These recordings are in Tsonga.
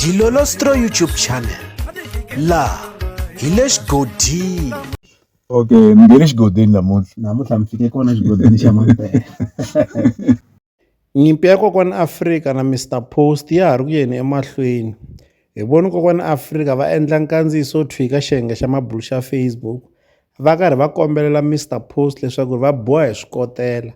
Dilolostro YouTube channel la hi le xigodini okay mi nge le xigodini namuntlha namuntlha mi fike kona xigodini xa mampela nyimpi ya kokwana afrika na mr post ya ha ri ku yeni emahlweni hi voni kokwana afrika va endla nkandziyiso thwika xiyenge xa mabulu xa facebook va karhi va kombelela mr post leswaku va boha hi swikotela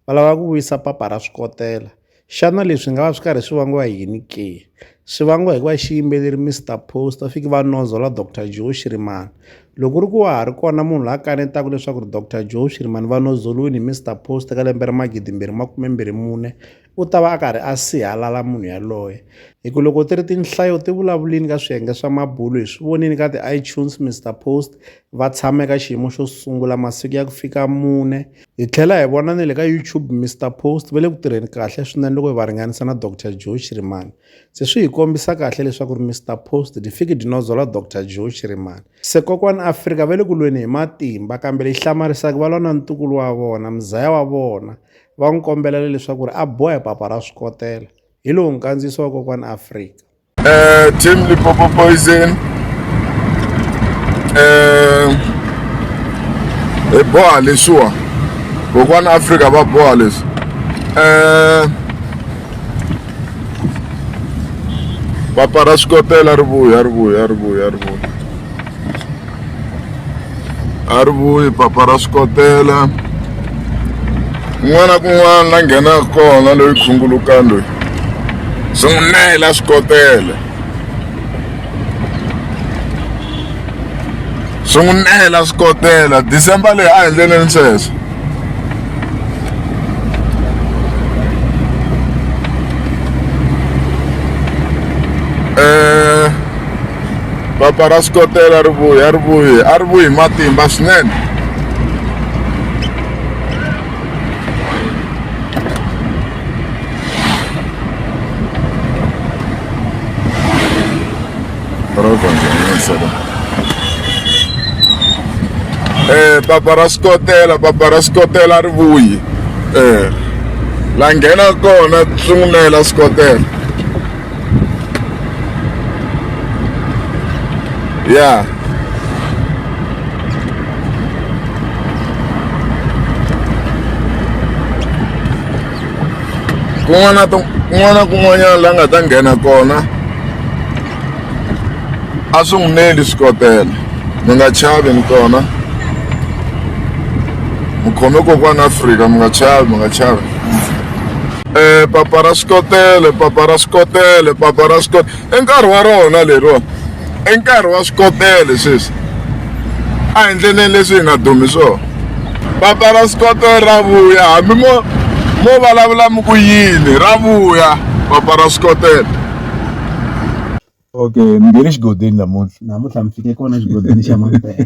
va lava ku vuyisa papa ra swikotela xana leswi nga va swi karhi swi vangiwa yini ke swi vangiwa hikuva xiyimbeleri Mr Post va fiki va nonzola Dr Joe Shirimani loko ku ri ku wa ha ri kona munhu la kanetaka leswaku ri Dr Joe Shirimani va nondzoliwini hi Mr Post ka lembe ra magidi mbirhi makume mbirhi mune u ta va a karhi a sihalala munhu yaloye hi ku loko ti ri tinhlayo ti vulavulini ka swiyenge swa mabulo hi swi vonini ka ti-itunes Mr Post va tshama eka xiyimo xo sungula masiku ya ku fika mune Hi tlhela hi vona ni le ka YouTube Mister Post va le ku tirheni kahle swinene loko hi va ringanisa na Doctor Joe Shirimani. Se swi hi kombisa kahle leswaku ri Mister Post di fiki di nodzola Doctor Joe Shirimani. Se kokwani Afrika va le ku lweni hi matimba kambe lexi hlamarisaka va lwa na ntukulu wa vona, muzaya wa vona, va n'wi kombela leswaku ri a boha hi papa ra swikotela. Hi lowu nkandziyiso wa kokwani Afrika. Uh, Team Lipopo Poison. Uh, hi boha leswiwa kokwana afrika va boha leswi um papa ra swikotela ri vuya ri vuya ri vuya ri vuya a ri vuyi papa ra swikotela kun'wana na kun'wana la nghenaka kona loyi khungulukani loyi swi n'wi nayela swikotela swi n'wi nayela swikotela december leyi a hi endleleni sweswo eh, papa ra swikotela ri vuyi a ri vuyi a ri vuyi matimba swinene eh papa ra skotela papa ra skotela ri vuyi eh la nghena kona swi n'wi nela skotela ya kun'wana na kun'wana na kun'wanyana la nga ta nghena kona a swi n'wi neli swikotela mi nga chavi ni kona mi khome kokwana afrika mi nga chavi mi nga chavi um papa ra swikotele papa ra swikotele papa ra swikotele i nkarhi wa rona leriwani i nkarhi wa swikotele sweswi a hi ndleleni leswi hi nga dumi swona papa ra swikotele ra vuya hambi mo mo vulavula mi ku yini ra vuya papa ra swikotele okay mi nghene xigodini namuntlha namuntlha mi fike kona xigodini xa mampela